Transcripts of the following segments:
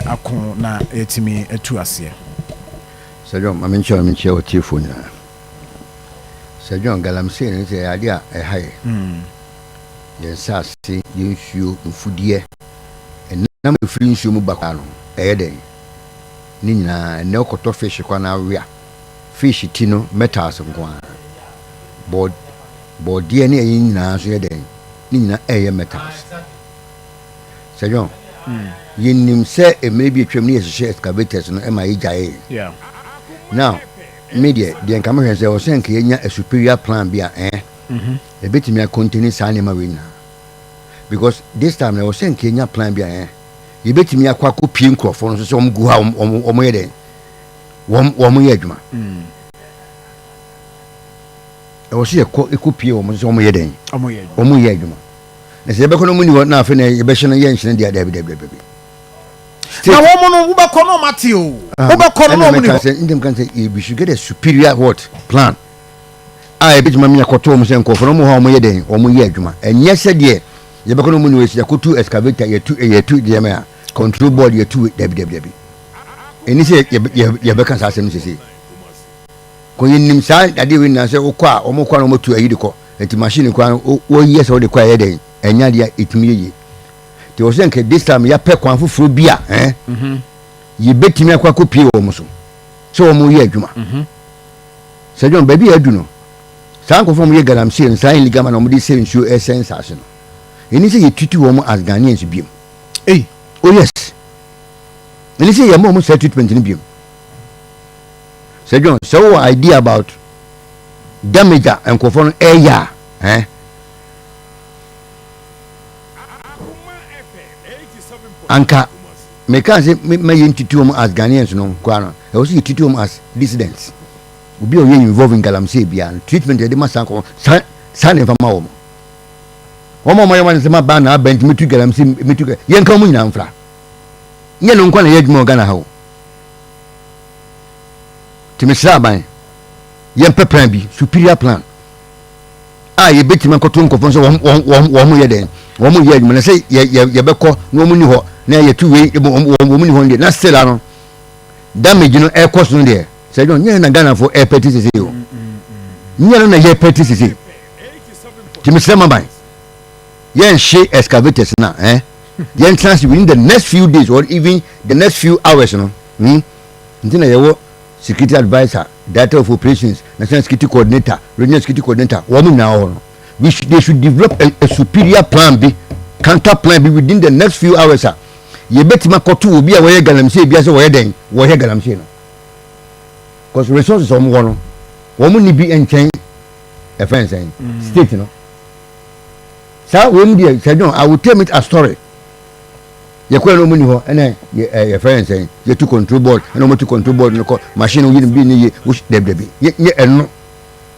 ako na yɛatumi atu aseɛ. Sir John, ma menkyerɛ na menkyerɛ w'atiefoɔ nyinaa. Sir John, galamsey no sɛ ɛyɛ adeɛ a ɛha yɛ. Yɛn nsaase, yɛn nsuo, mfudeɛ, ɛnam a ɛfiri nsuo mu ba koraa no, ɛyɛ dɛn? Ne nyinaa, ɛnnɛ wokɔtɔ fish koraa na awea. Fish ti no, metals nko ara. Bɔ, bɔdeɛ ne ɛyi nyinaa nso yɛ dɛn? Ne nyinaa ɛyɛ metals. Sir John, yɛnim sɛ mmerɛ bi atwam no yɛhyehyɛɛ excavators no ma yɛgyaee. Now, me deɛ, deɛ nka mehwɛ sɛ ɛwɔ sɛ nka yɛnya a superior plan bi a ɛɛ, ɛbɛtumi a contain saa nneɛma wei nyinaa. Because this time no ɛwɔ sɛ nka yɛnya plan bi a ɛɛ, yɛbɛtumi akɔ akɔ pie nkurɔfoɔ no so sɛ wɔn gu hɔ a wɔn wɔn wɔn yɛ dɛn? Wɔn wɔn yɛ adwuma. Ɛwɔ sɛ yɛkɔ ɛkɔ pie wɔn so sɛ wɔn yɛ dɛn? Wɔn yɛ adwuma. Na sɛ yɛbɛkɔ na wɔn nni hɔ na afei na yɛbɛhyɛ no yɛ nhyɛn deɛ dabi dabi dabi. Na wɔn no wobɛkɔ na wɔn ate o. Ah, wobɛkɔ no na wɔn nni hɔ. Ɛna meka sɛ eh, we should get a superior what plan a ɛbɛtuma mi akɔtɔ wɔn sɛ nkɔfo na wɔn hɔ a wɔn yɛ dɛn wɔn yɛ adwuma. Ɛnyɛ sɛ deɛ yɛbɛkɔ na wɔn nni hɔ yɛsi akɔtu excavator yɛtu eh, yɛtu deɛ mɛ a control board yɛtu dabi dabi dabi. Ɛni sɛ yɛbɛka saa asɛm sese. Kɔ yɛnim saa adeɛ wei nyinaa sɛ wokɔ a wɔn kɔ a na wɔtu ayi de kɔ nti machine koraa no wo wɔyɛ sɛ wode kɔ a ɛyɛ dɛn ɛnyɛ adeɛ a ɛtumi yɛ yie nti wɔ sɛ nka this time yɛapɛ kwan foforɔ bi a ɛn mhm. yɛbɛtumi akɔ akɔpie wɔ wɔn so sɛ wɔn yɛ adwuma mhm. sɛ dwom baabi a adu no saa nkurɔfoɔ wɔn yɛ galamsey no saa nligama na wɔn de sɛ nsuo ɛsɛ nsaase no ɛni sɛ yɛtutu wɔn as Ghanaians biom ei oh yes ɛni sɛ yɛma wɔn saa treatment no biom Sɛ John, sɛ wowɔ idea about damage a nkurɔfoɔ no ɛyɛ a, eh? Anka mekaa sɛ ma yɛ ntiti wɔn as Ghanaians no koraa no, ɛwɔ sɛ yɛ titi wɔn as dissidents. Obi a ɔyɛ involve in galamsey biara no, treatment yɛde ma saa kɔ saa saa na ɛfa ma wɔn. Wɔn a wɔn ayɛ wɔn asɛm abaa na abɛn nti metu galamsey metu yɛn ka wɔn nyinaa mfra. Nyɛ no nkwa na yɛ adwuma wɔ Ghana ha o. Nti mesrɛ aban, yɛmpɛ plan bi, superior plan a yɛbɛtumi akɔto nkɔfoɔ sɛ wɔn yɛ dɛn wɔn yɛ adwuma na sɛ yɛbɛkɔ na wɔn ni hɔ na yɛtu wei wɔn ni hɔ deɛ na still ano damage no ɛkɔ so no deɛ sɛ dɔn nyɛ na Ghanafoɔ ɛpɛ ti sese o nyɛ no na yɛpɛ ti sese ti mesrɛ ma ban yɛnhye excavators no a, eh, yɛntena ase within the next few days or even the next few hours no. Hmm? Nti na yɛwɔ security adviser, director of operations, national security coordinator, regional security coordinator, wɔn nyinaa wɔ hɔ no. We should, they should develop a, a superior plan bi, counter plan bi within the next few hours a yɛbɛtumi akɔto obi a wɔyɛ galamsey bi ase wɔyɛ dɛn wɔyɛ galamsey no because resources wɔn wɔ no wɔn ni bi nkyɛn ɛfɛn sɛn mm. state no. saa wei mu deɛ sɛ dɔn i will tell it a story yɛkɔɛ no ɔmo ni hɔ ɛna yɛfrɛ yɛn sɛn yɛtu control board ɛna ɔmo tu control board no kɔ machine no yiri bi ne yie wosi dɛbidɛbi yɛ yɛ ɛno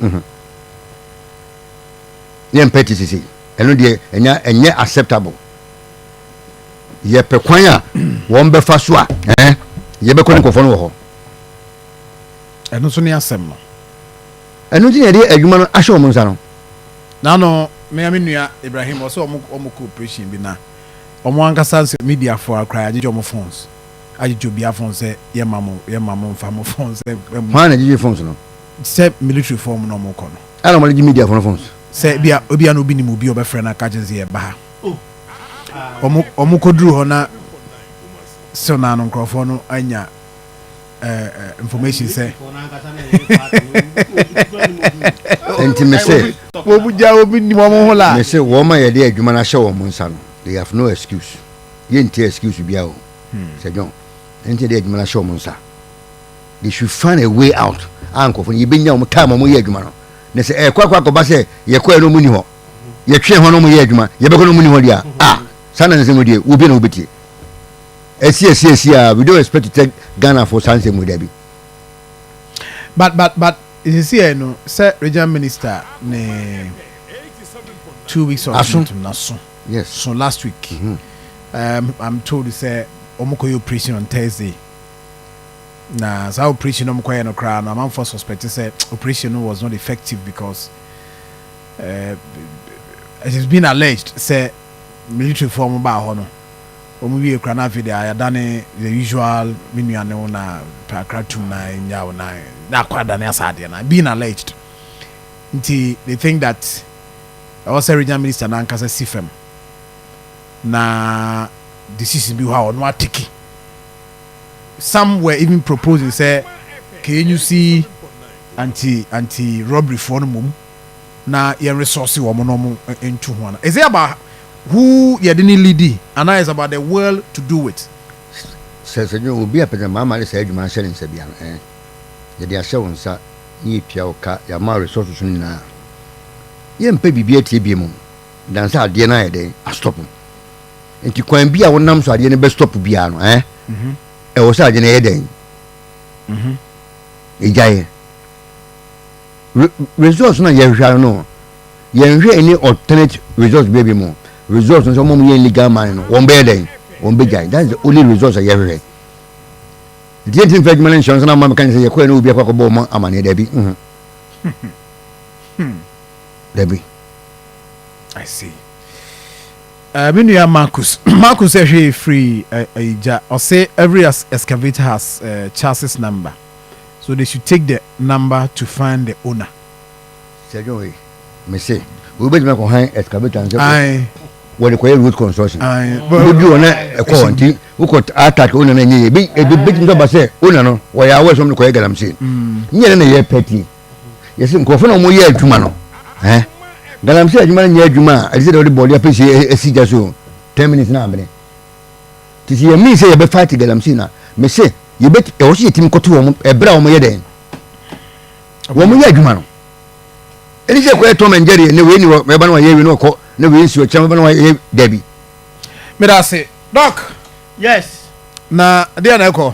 mhm. yɛn pɛ ti sisi ɛno deɛ ɛnya ɛnyɛ acceptable yɛpɛ kwan a wɔn bɛfa so a ɛɛ yɛbɛkɔ ne nkɔfɔ no wɔ hɔ. ɛno nso ne asɛm no. Ɛno nti na yɛde adwuma no ahyɛ wɔn nsa no. Naano me a me nua Ibrahim ɔsɛ ɔmo ɔmo kɔ operation bi na ɔmo ankasa nsɛ media foɔ a koraa yɛagyegye ɔmo phones agyegye obia phone sɛ yɛmma mo yɛmma mo nfa mo phone sɛ ɛm. Hwan na gyegye phones no? Sɛ military foɔ ɔmo na ɔmo kɔ no. Ɛna ɔmo de gye media foɔ no phones. Sɛ ebia ebia na obi nim obi a ɔbɛfrɛ no aka akyerɛ no sɛ yɛba ha ɔmo ɔmo kɔduru hɔ na still naano nkorɔfoɔ no anya information sɛ nti me se wɔn gya wɔn nim wɔn ho la me se wɔn ma yɛde adwuma no ahyɛ wɔn nsa no they have no excuse yɛnti excuse biara o sɛ John nti yɛde adwuma no ahyɛ wɔn nsa they should find a way out a nkurɔfoɔ no yɛbɛnya wɔn time wɔn yɛ adwuma no na sɛ ɛkɔ akɔ akɔba sɛ yɛkɔɛ no wɔn ni hɔ yɛtwɛn hɔ no wɔn yɛ adwuma yɛbɛkɔ no wɔn ni hɔ deɛ a saa na ne sɛ wɔn deɛ wɔbie na wɔbɛtie Ɛsi ɛsi ɛsi a we don't expect to tell Ghana for saa nsɛm wei dabi. But but but sisi ɛ no sɛ regional minister ne two weeks of aso meetum na so yes so last week mm -hmm. um, I'm told sɛ wɔn kɔ yɛ operation on Thursday na saa operation wɔn kɔ yɛ no koraa no amanfoɔ suspect sɛ operation no was not effective because uh, it has been alleged sɛ military foɔ wɔn baa hɔ no. Wɔn wiee koraa na afei deɛ ayɛ adane the usual me nua ne wo na pɛ akra tum na ɛnyaa wo na na akɔ adane asa adeɛ na being alleged nti they think that ɛwɔ sɛ regional minister no ankasa si fam na decision bi hɔ a ɔno ateki some were even proposing sɛ kɛnyusi anti anti robbery foɔ no mmom na yɛn resɔɔse wɔn na wɔn ntu ho ana? Is it about who yɛde ne lidi anaa is about the world to do it? Sɛ sɛ dwene obi a pɛsɛ maa ma de saa adwuma ahyɛ ne nsa bia no ɛn yɛde ahyɛ wo nsa na yɛtua wo ka yɛama wo resources no nyinaa a yɛmpɛ biribi atie biem o dan sɛ adeɛ no ayɛ dɛn astop nti kwan bi a wonam so adeɛ no bɛ stop biara no ɛn mhm. ɛwɔ sɛ adeɛ no ɛyɛ dɛn mhm. ɛgyaeɛ re results na yɛhwehwɛ ano no yɛnhwɛ ɛne alternate results bɛbi mu results no sɛ ɔma mu yɛ legal man no wɔn bɛyɛ dɛn wɔn bɛgyae that's the only results a yɛhwehwɛ nti yɛnti mfa adwuma no nhyɛ nso na ama meka ne sɛ yɛkɔɛ na obi akɔ akɔbɔ ɔma amaneɛ daabi mhm. daabi I see. Uh, me nua Marcus Marcus ɛhwɛ firi uh, uh, Ija ɔse every excavator has uh, chassis number so they should take the number to find the owner. Sɛ dwon wei mese wei bɛtumi akɔ han excavator no sɛ wɔde kɔyɛ road construction wobɛdu hɔ na ɛkɔ hɔ nti wokɔ attack wona no ɛnyɛ yɛ ɛbɛtumi sɛ ɔba sɛ wona no wɔyɛ awɔ ɛsɛ ɔm de kɔyɛ galamsey ne yɛ ne na yɛ pɛti yɛsɛ nkurɔfoɔ na wɔyɛ adwuma no eh? galamsey adwuma no nyɛ adwuma a ɛde sɛ deɛ wode bɔɔde apɛsie asi gya so 10 minutes na abene Te se yɛ mean sɛ yɛbɛ fight galamsey na me se yɛbɛ ɛwɔ so yɛtimi kɔto wɔn ɛbrɛ a wɔn yɛ dɛn wɔn yɛ adwuma no ɛni sɛ kɔyɛ Tom and Jerry ne wei ne wɔ ɛba na wɔyɛ wei na wɔkɔ na wei nsi ɔkyerɛ ɛba na wɔyɛ dabi. Medase Doc. Yes. Na deɛ na ɛkɔ.